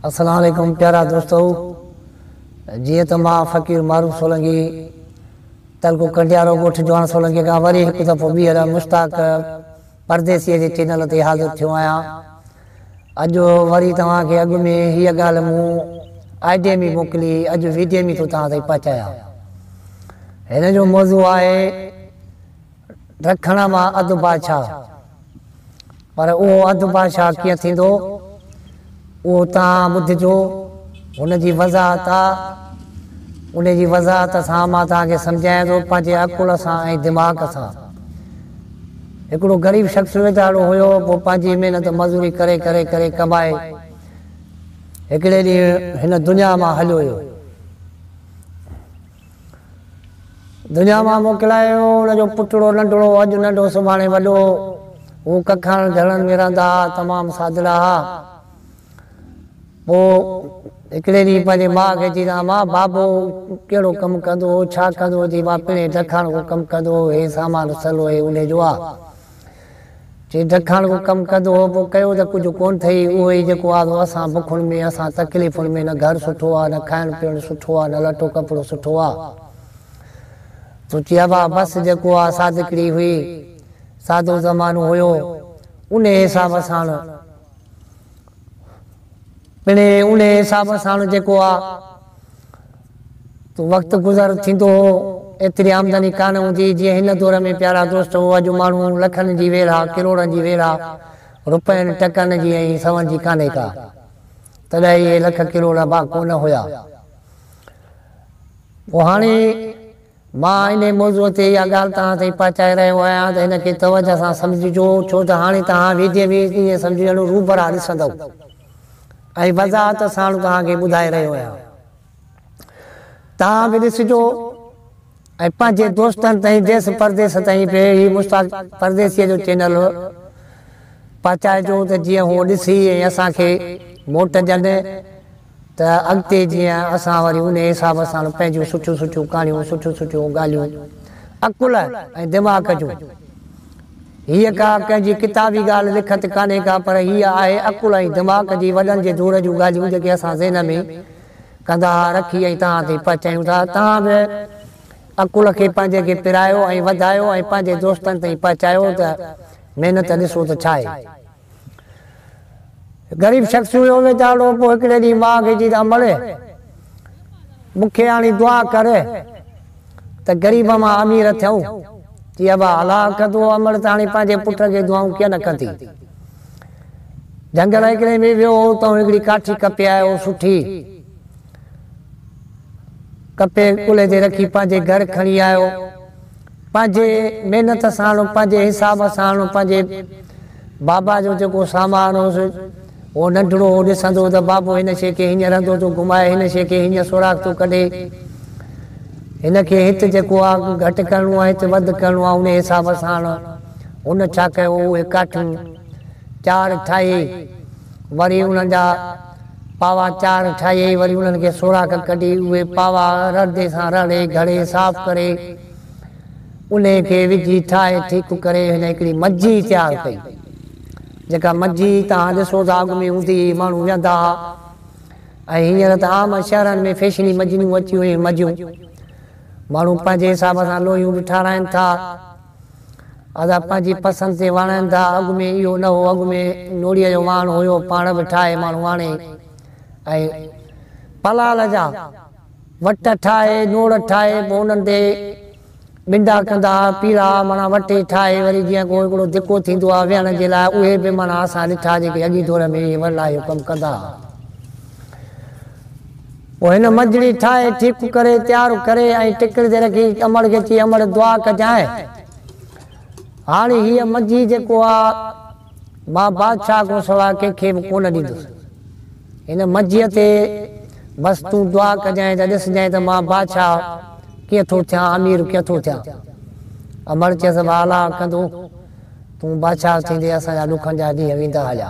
السلام عليڪم پيارا دوستو جيئن ته مان فقير معروف سولنگي تعلقو ڪنڊيارو ڳوٺ جوان سولنگي کان وري هڪ دفعو ٻيهر مشتاق پرديسي جي چينل تي حاضر ٿيو آهيان اڄ وري توهان کي اڳ ۾ هيء ڳالهه مون آئيڊيم ئي موڪلي اڄ ويڊيم ئي ٿو توهان تائين پهچايان هن جو موضوع آهي رکڻ مان اڌ بادشاهه، پر اهو اڌ بادشاهه ڪيئن ٿيندو، اهو توهان ٻڌجو، هن جي وضاحت آ، ان جي وضاحت سان مان توهان کي سمجهايان ٿو پنهنجي عقل سان ۽ دماغ سان. هڪڙو غريب شخص ويجهاڙو هيو، پوء پنهنجي محنت مزوري ڪري ڪري ڪري ڪمائي هڪڙي ڏينهن هن دنيا مان هليو ويو. دنيا مان موڪلائي ويو. ان جو پٽڙو ننڍڙو، اڄ ننڍو سڀاڻي وڏو. هو ڪکڻ جهڻن ۾ رهندا ها، تمام سادڙا ها. پوء هڪڙي ڏينهن پنهنجي ماء کي چيندا ها، ماء، بابو ڪهڙو ڪم ڪندو هو، ڇا ڪندو هو؟ چي، ماء، پڻهين ڊکاڻ ڪو ڪم ڪندو هو، هي سامان سلوئي اونهي جو آ. چي جکاڻ ڪو ڪم ڪڌ هو پو ڪيو ته ڪجهه ڪون ٿئي اهو ئي جيڪو آ سو اسان بکن ۾ اسان تڪليفن ۾ نه گهر سٺو آ نه کائڻ پيئڻ سٺو آ نه لٽو ڪپڙو سٺو آ تو چي ابا بس جيڪو آ سادڪڙي هئي سادو زمانو هيو انهي حساب ساڻ پڻي انهي حساب ساڻ جيڪو آ. وقت گذر ٿيندو هو، ايتري آمدني ڪانه هوندي جيئن هن دور ۾ پيارا دوستو، اڄ ماڻهو لکن جي ويڙها، ڪروڙن جي ويڙها، رپين، ٽڪن جي ۽ سون جي ڪانهي ڪا. تڏهن اهي لک ڪروڙ با ڪونه هيا. پوء هاڻي مان انهي موضوع تي اها ڳالهه توهان تائين پهچائي رهيو آهيان ته ان کي توجه سان سمجهجو، ڇو ته هاڻي توهان ويدي ۾ ائين سمجهي هلو روبرا ڏسندؤ ۽ وضاحت ساڻ توهان کي ٻڌائي رهيو آهيان. توهان به ڏسجو ۽ پنهنجي دوستن تائين ديس پرديس تائين به هي مشتاق پرديسيء جو چينل پهچائجو ته جيئن هو ڏسي ۽ اسان کي موٽ ڏين ته اڳتي جيئن اسان وري انهي حساب سان پنهنجيون سٺيون سٺيون ڪهاڻيون سٺيون سٺيون ڳالهيون عقل ۽ دماغ جون هيء ڪا ڪنهن جي ڪتابي ڳالهه لکت ڪانهي ڪا پر هيء آهي عقل ۽ دماغ جي وڏن جي دور جون ڳالهيون جيڪي اسان ذهن ۾ ڪندا ها رکي ۽ توهان تائين پهچايون ٿا. توهان به عقل کي پنهنجي کي پرايو ۽ وڌايو ۽ پنهنجي دوستن تائين پهچايو ته محنت ڏسو ته ڇا آهي. غريب شخص هيو ويچارو پوء هڪڙي ڏينهن ماء کي چيس امڙي مون کي هاڻي دعا ڪر ته غريب مان امير ٿيون چي ابا الا ڪندو امڙ ته هاڻي پنهنجي پٽ کي دعائون ڪيئن نه ڪندي جهنگل هڪڙي ۾ ويو هو اتان هڪڙي ڪاٺي ڪپي آيو سٺي ڪپي ڪلهي تي رکي پنهنجي گهر کڻي آيو پنهنجي محنت سان، پنهنجي حساب سان، پنهنجي بابا جو جيڪو سامان هوس، اهو ننڍڙو هو، ڏسندو هو ته بابو هن شيء کي هينئن رندو ٿو گهمائي، هن شيء کي هينئن سوراخ ٿو ڪڍي، هن کي هت جيڪو آ گهٽ ڪرڻو آ، هت وڌ ڪرڻو آ، انهيء حساب سان هن ڇا ڪيو، اهي ڪاٺيون چار ٺاهي، وري انهن جا پاوا چار ٺاهي، وري انهن کي سوراخ ڪڍي، اهي پاوا رڙدي سان رڙي، گهڙي، صاف ڪري. انهي کي وجهي ٺاهي ٺيڪ ڪري هن هڪڙي مجي تيار ڪئي جيڪا مجي توهان ڏسو ته اڳ ۾ هوندي هئي ماڻهو ويهندا ها ۽ هينئر ته عام شهرن ۾ فيشني مجنيون اچيون اهي مجيون ماڻهو پنهنجي حساب سان لوهيون به ٺاراهين ٿا ادا پنهنجي پسند تي واڻائين ٿا اڳ ۾ اهو نه هو اڳ ۾ نوڙيء جو واڻ هيو پاڻ به ٺاهي ماڻهو واڻي ۽ پلال جا وٽ ٺاهي، نوڙ ٺاهي، پوء انهن تي ٻنڊا ڪندا، پيڙا، معنيٰ وٽي ٺاهي، وري جيئن ڪو هڪڙو دڪو ٿيندو آهي ويهڻ جي لاء، اهي به معنيٰ اسان ڏٺا جيڪي اڳئين دور ۾ اهي ورلا اهو ڪم ڪندا ها. پوء هن منجڙي ٺاهي، ٺيڪ ڪري، تيار ڪري ۽ ٽڪڙ تي رکي، امڙ کي چئي، امڙ دعا ڪجانء. هاڻي هيء منجي جيڪو آ. مان بادشاهه کان سواء ڪنهن کي به ڪونه ڏيندس. هن منجيء تي بس تون دعا ڪجانء ته ڏسجانء ته مان بادشاهه ڪيئن ٿو ٿيان، امير ڪيئن ٿو ٿيان. امڙ چيس والا ڪندو، تون بادشاهه ٿيندي اسان جا ڏکن جا ڏينهن ويندا هيا.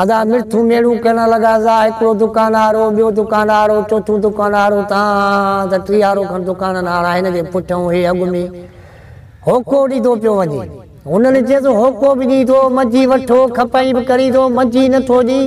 ادا مرٿون ميڙون ڪرڻ لڳا زا هڪڙو دڪان هارو ٻيو دڪان هارو چوٿون دڪان هارو تان ته ٽيهارو کن دڪانن هارا هن جي پٺئون هي اڳ ۾ هوڪو ڏيندو پيو وڃي هنن چيس هوڪو به ڏي ٿو منجهي وٺو کپائي به ڪري ٿو منجهي نه ٿو ڏي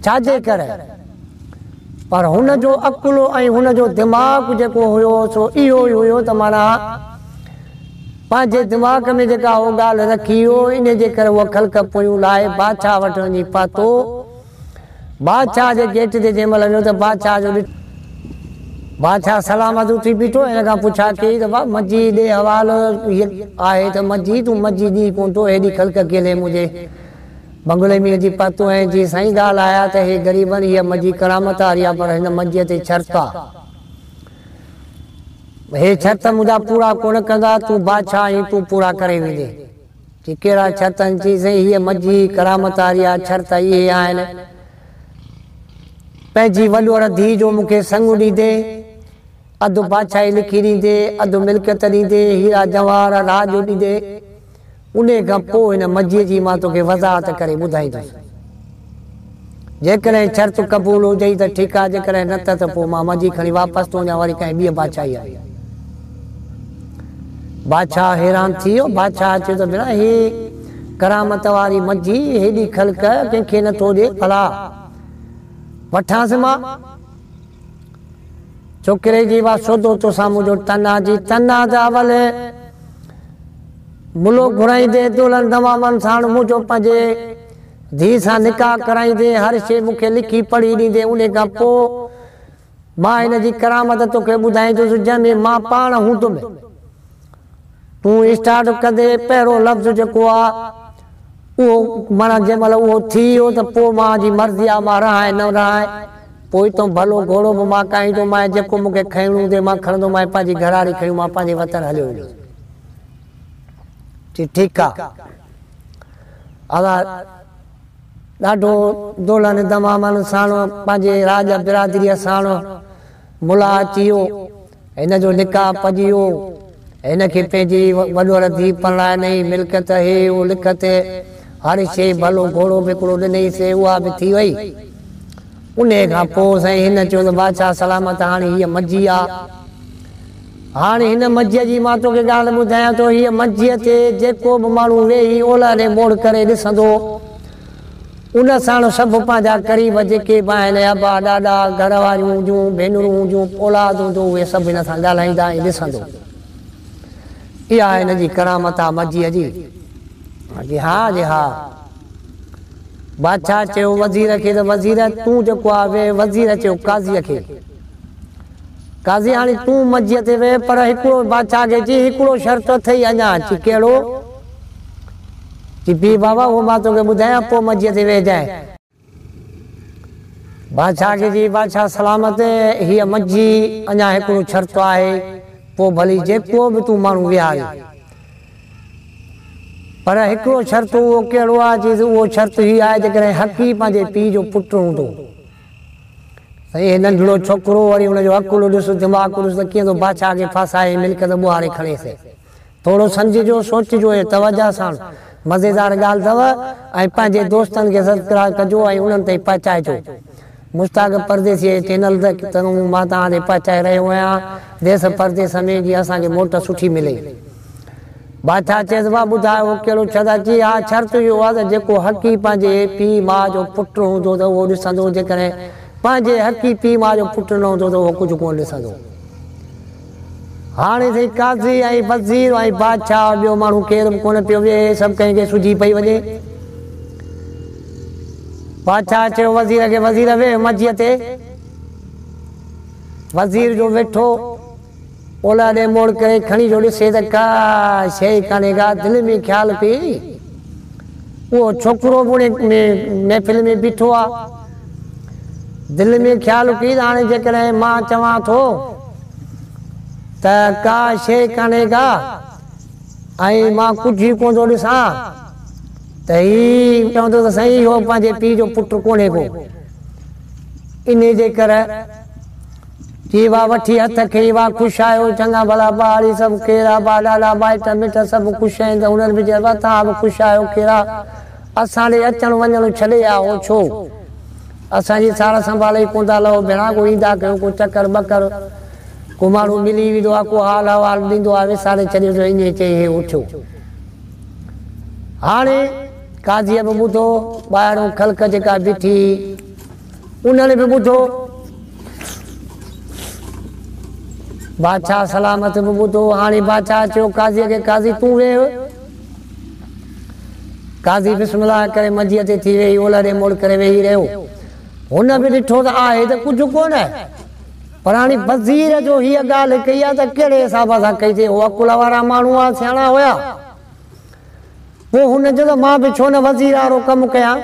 ڇاجي ڪري پر هن جو عقل ۽ هن جو دماغ جيڪو هيو سو اهو ئي هيو ته معنيٰ پنهنجي دماغ ۾ جيڪا هو ڳالهه رکي هو، انهي جي ڪري هو خلق پويون لاهي بادشاهه وٽ وڃي پهتو. بادشاهه جي گيٽ تي جنهن مهل ويو ته بادشاهه جو ڏٺو. بادشاهه سلامت اٿي بيٺو ۽ هن کان پڇا ڪيئي ته واهه منجي ڏي حوال هيء آهي ته منجي تون منجي ڏينهن ڪونه ٿو هيڏي خلق ڪيلي منهنجي بنگلي ۾ اچي پهتو آهين. جي سائين ڳالهه آهي ته هي غريبن هيء منجي ڪرامت واري آهي پر هن منجيء تي شرط آهي. هي شرط منهنجا پورا ڪونه ڪندا، تون بادشاهه آهين، تون پورا ڪري ويندين. چي ڪهڙا شرط آهن؟ چيائين سائين هيء مجيء ڪرامت واريا شرط اهي آهن، پنهنجي وڏوڙ ڌيء جو مون کي سڱو ڏيندي، اڌ بادشاهي لکي ڏيندي، اڌ ملڪيت ڏيندي، هيرا جواهر راڄ ڏيندي. انهيء کان پوء هن مجيء جي مان توکي وضاحت ڪري ٻڌائيندس. جيڪڏهن شرط قبول هجئي ته ٺيڪ آهي، جيڪڏهن نه ته ته پوء مان مجي کڻي واپس ٿو وڃان وري ڪنهن ٻيء بادشاهيء ۾. بادشاهه حيران ٿي ويو. بادشاهه چيو ته ڀيڻا، هيء ڪرامت واري مجي هيڏي خلق ڪنهن کي نه ٿو ڏي، ڀلا وٺانس مان؟ ڇوڪري جي وا سوڌو توسان منهنجو تن آ جي تن آ جا ولي ملو گهرائيندين دولن دوامن ساڻ منهنجو پنهنجي ڌي سان نڪاح ڪرائيندين هر شي مون کي لکي پڙهي ڏيندين انهي کان پو مان هن جي ڪرامت توکي ٻڌائيندس جنهن ۾ مان پاڻ هوندم. تون اسٽارٽ ڪندي پهريون لفظ جيڪو آ اهو معنيٰ جنهن مهل اهو ٿي ويو ته پوء مان جي مرضي آ مان رهائين نه رهائين پوء تون ڀلو گهوڙو به مان ڪاهيندومانء جيڪو مون کي کنئڻو هوندي مان کڻندومانء پنهنجي گهراڙي کڻي مان پنهنجي وطن هليو ويندس چي ٺيڪ آ آزاد ڏاڍو دولهن دمامن ساڻ پنهنجي راڄ برادريء ساڻ ملاح اچي ويو. هن جو نڪاح پڄي ويو. هن کي پنهنجي وڏوهر ڌيء پرڻائنئي. ملڪيت هي او لک تي هر شيء ڀلو گهوڙو به هڪڙو ڏنئيس. اها به ٿي وئي. انهيء کان پوء سائين هن چيو ته بادشاهه سلامت هاڻي هيء مجي آ. هاڻي هن مجيء جي مان توکي ڳالهه ٻڌايان ٿو. هيء مجيء تي جيڪو به ماڻهو ويهي اولهه ڏي موڙ ڪري ڏسندو. ان ساڻ سڀ پنهنجا قريب جيڪي به آهن ابا، ڏاڏا، گهر واريون هجون، ڀينرون هجون، اولاد هجو اهي سڀ هن سان ڳالهائيندا ۽ ڏسندو. اها هن جي ڪرامت آ مجيء جي؟ هان جي ها جي ها. بادشاهه چيو وزير کي ته وزير تون جيڪو آ ويهه وزير چيو قاضيء کي قاضي هاڻي تون مجيء تي ويهه پر هڪڙو بادشاهه کي چئي هڪڙو شرط اٿئي اڃا چي ڪهڙو؟ چي پيء بابا اهو مان توکي ٻڌايان پوء مجيء تي ويهجانء. بادشاهه کي چي بادشاهه سلامت هيء مجي اڃا هڪڙو شرط آهي پوء ڀلي جيڪو به تون ماڻهو ويهارين پر هڪڙو شرط اهو ڪهڙو آهي چيس اهو شرط هي آهي جيڪڏهن حقي پنهنجي پيء جو پٽ هوندو ته اهي ننڍڙو ڇوڪرو وري ان جو عقل ڏس دماغ ڏس ته ڪيئن ٿو بادشاهه کي ڦاسائي ملڪيت ٻوهاري کڻيس. ٿورو سمجهجو، سوچجو ۽ توجهه ساڻ مزيدار ڳالهه اٿو ۽ پنهنجي دوستن کي سبسڪرائيب ڪجو ۽ انهن تائين پهچائجو. مشتاق پرديسيء جي چينل تائين مان توهان تائين پهچائي رهيو آهيان. ديس پرديس ۾ جيئن اسان کي موٽ سٺي ملي. بادشاهه چيس، واهه ٻڌاء اهو ڪهڙو شرط آهي؟ چي، اها شرط اهو آهي ته جيڪو حقيقي پنهنجي پيء ماء جو پٽ هوندو ته اهو ڏسندو، جيڪڏهن پنهنجي حقيقي پيء ماء جو پٽ نه هوندو ته اهو ڪجهه ڪونه ڏسندو. هاڻي سائين قاضي ۽ وزير ۽ بادشاهه ۽ ٻيو ماڻهو ڪير به ڪونه پيو ويهي، سڀ ڪنهن کي سجهي پئي وڃي. بادشاهه چيو وزير کي، وزير ويهه مجيء تي. وزير جو ويٺو اولهه ڏي موڙ ڪري کڻي جو ڏسي ته ڪا شيء ڪانهي ڪا دل ۾ خيال پئي. اهو ڇوڪرو به ان محفل ۾ بيٺو آ. دل ۾ خيال اڪيل هاڻي جيڪڏهن مان چوان ٿو ته ڪا شيء ڪانهي ڪا ۽ مان ڪجهه ئي ڪونه ٿو ڏسان ته هي چوندو ته سائين اهو پنهنجي پيء جو پٽ ڪونهي ڪو انهي جي ڪري جي وا وٺي هٿ کي وا خوش آهيو چڱا ڀلا ٻار سڀ ڪير آبا ڏاڏا مائٽ مٽ سڀ خوش آهن ته هنر به چئبا ته ها به خوش آهيو ڪيرا اسان ڏي اچڻ وڃڻ ڇڏي آ هو ڇو اسان جي سار سنڀالي ڪوندا لئو ڀيڻا ڪو ايندا ڪيو ڪو چڪر ٻڪر ڪو ماڻهو ملي ويندو آ ڪو حال احوال ڏيندو آ وساري ڇڏيو جو ائين چئي هي اٿيو هاڻي قاضيء به ٻڌو ٻاهرون خلق جيڪا بيٺي هي انهن به ٻڌو بادشاهه سلامت به ٻڌو هاڻي بادشاهه چيو قاضيء کي قاضي تون ويهه قاضي بسم الله ڪري منجيء تي ٿي ويهي اولهه ڏي مڙ ڪري ويهي رهيو. هن به ڏٺو ته آهي ته ڪجهه ڪونه پر هاڻي وزير جو هيء ڳالهه ڪئي آهي ته ڪهڙي حساب سان ڪئي اٿئي. هو عقل وارا ماڻهو هئا، سياڻا هيا. پوء هن چيو ته مان به ڇو نه وزير وارو ڪم ڪيان.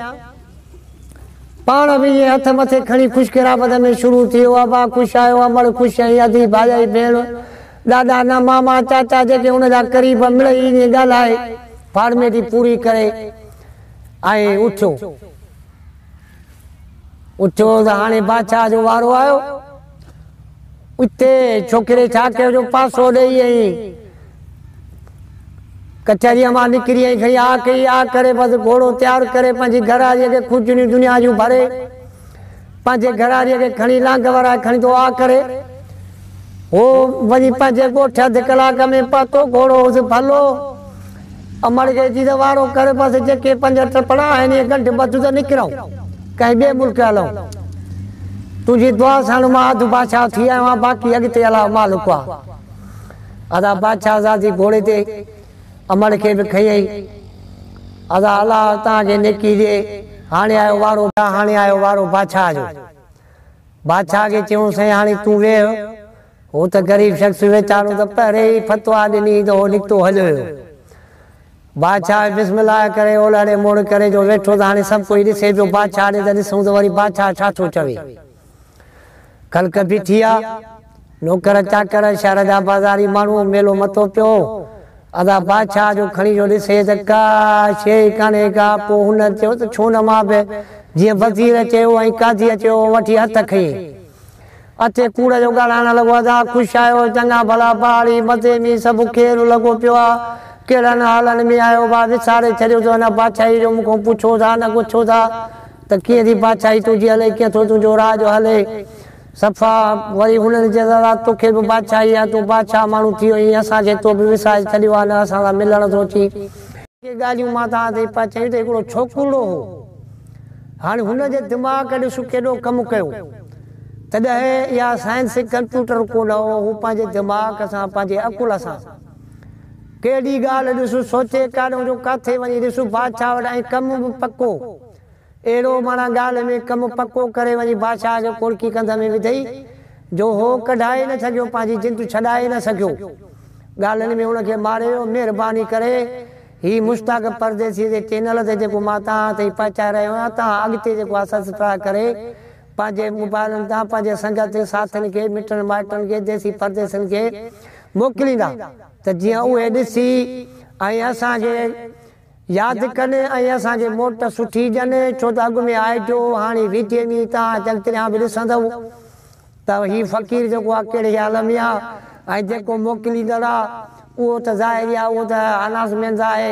پاڻ به ائين هٿ مٿي کڻي خوش خرابت ۾ شروع ٿي ويو. ابا خوش آهيو، امڙ خوش آهين، ادي ڀائيائي ڀيڻ ڏاڏا نه ماما چاچا جيڪي ان جا قريب مڙئي ائين ڳالهائي فارميٽي پوري ڪري ۽ اٿيو اٿيو ته هاڻي بادشاهه جو وارو آيو اتي ڇوڪري ڇا ڪيو جو پاسو ڏئي ائين ڪچهريء مان نڪري ائين کڻي آ ڪئي آ ڪري بس گهوڙو تيار ڪري پنهنجي گهر آئي کجنيون دنيا جون ڀري پنهنجي گهراڙيء کي کڻي لانگ ورائي کڻي دعا ڪري هو وڃي پنهنجي ڳوٺ اڌ ڪلاڪ ۾ پهتو. گهوڙو هوس ڀلو. امڙ گئي ٿي ته وارو ڪر بس جيڪي پنج ٽپڙا آهن اهي ڳنڍ ٻڌ ته نڪرئون ڪنهن ٻئي ملڪ هلئون. تنهنجي دعا ساڻ مان اڌ بادشاهه ٿي آيو آهيان باقي اڳتي الله مالڪ آ. ادا بادشاهزادي گهوڙي تي امڙ کي به کنيئي. ادا الله توهان کي نيڪي ڏي. هاڻي آيو وارو ڀيا هاڻي آيو وارو بادشاهه جو. بادشاهه کي چيون سائين هاڻي تون ويهه. هو ته غريب شخص ويچارو ته پهرين ئي فتويٰ ڏني ته هو نڪتو هليو ويو. بادشاهه بسم الله ڪري اولهڙي موڙ ڪري جو ويٺو ته هاڻي سڀ ڪوئي ڏسي پيو بادشاهه ڏي ته ڏسون ته وري بادشاهه ڇا ٿو چوي. کلڪ پي ٿي آ. نوڪر چاڪر، شهر جا بازاري ماڻهو، ميلو متو پيو هو. ادا بادشاهه جو کڻي جو ڏسي ته ڪا شيء ئي ڪانهي ڪا. پوء هن چيو ته ڇونه مان به جيئن وزير چيو ۽ قاضيء چيو هو وٺي هٿ کنئين. اٿي ڪوڙ جو ڳاڙهائڻ لڳو ادا خوش آهيو؟ چڱا ڀلا پهاڙي مزي ۾ سڀ کير لڳو پيو آ. ڪهڙن حالن ۾ آهيو ڀا وساري ڇڏيو ته هن بادشاهي جو مون کان پڇو ٿا نه ڳڇو ٿا. ته ڪيئن ٿي بادشاهي تنهنجي هلي، ڪيئن ٿو تنهنجو راڄ هلي، صفا وري انهن چيس ادا توکي به بادشاهي آهي، تون بادشاهه ماڻهو ٿيو آهين، اسان کي تو به وسائج ڇڏيو آهي، نه اسان سان ملڻ ٿو اچين. ڪي ڳالهيون مان توهان تائين پهچايون ته هڪڙو ڇوڪرڙو هو، هاڻي هن جي دماغ ڏس ڪيڏو ڪم ڪيو، تڏهن اها سائنس ڪمپيوٽر ڪونه هو، هو پنهنجي دماغ سان، پنهنجي عقل سان ڪيڏي ڳالهه ڏس سوچي، ڪاڏنهن جو ڪاٿي وڃي ڏس بادشاهه وٽ ۽ ڪم به پڪو. اهڙو ماڻا ڳالهه ۾ ڪم پڪو ڪري وڃي بادشاهه کي ڪوڙڪي ڪنڌ ۾ وڌئي جو هو ڪڍائي نه سگهيو پنهنجي جند ڇڏائي نه سگهيو ڳالهين ۾ هن کي ماري ويو مهرباني ڪري هي مشتاق پرديسيء جي چينل تي جيڪو مان توهان تائين پهچائي رهيو آهيان توهان اڳتي جيڪو آهي سسڪرائب ڪري پنهنجي موبائلن تان پنهنجي سنگتين ساٿين کي مٽن مائٽن کي ديسي پرديسين کي موڪليندا ته جيئن اهي ڏسي ۽ اسان کي ياد ڪن ۽ اسان کي موٽ سٺي ڏين ڇو ته اڳ ۾ آء جو هاڻي ويجهي ۾ ئي تان اچل تريان به ڏسندؤ ته هي فقير جيڪو آ ڪهڙي حال ۾ آ ۽ جيڪو موڪليندڙ آ اهو ته ظاهري آ اهو ته اناسمينز آهي.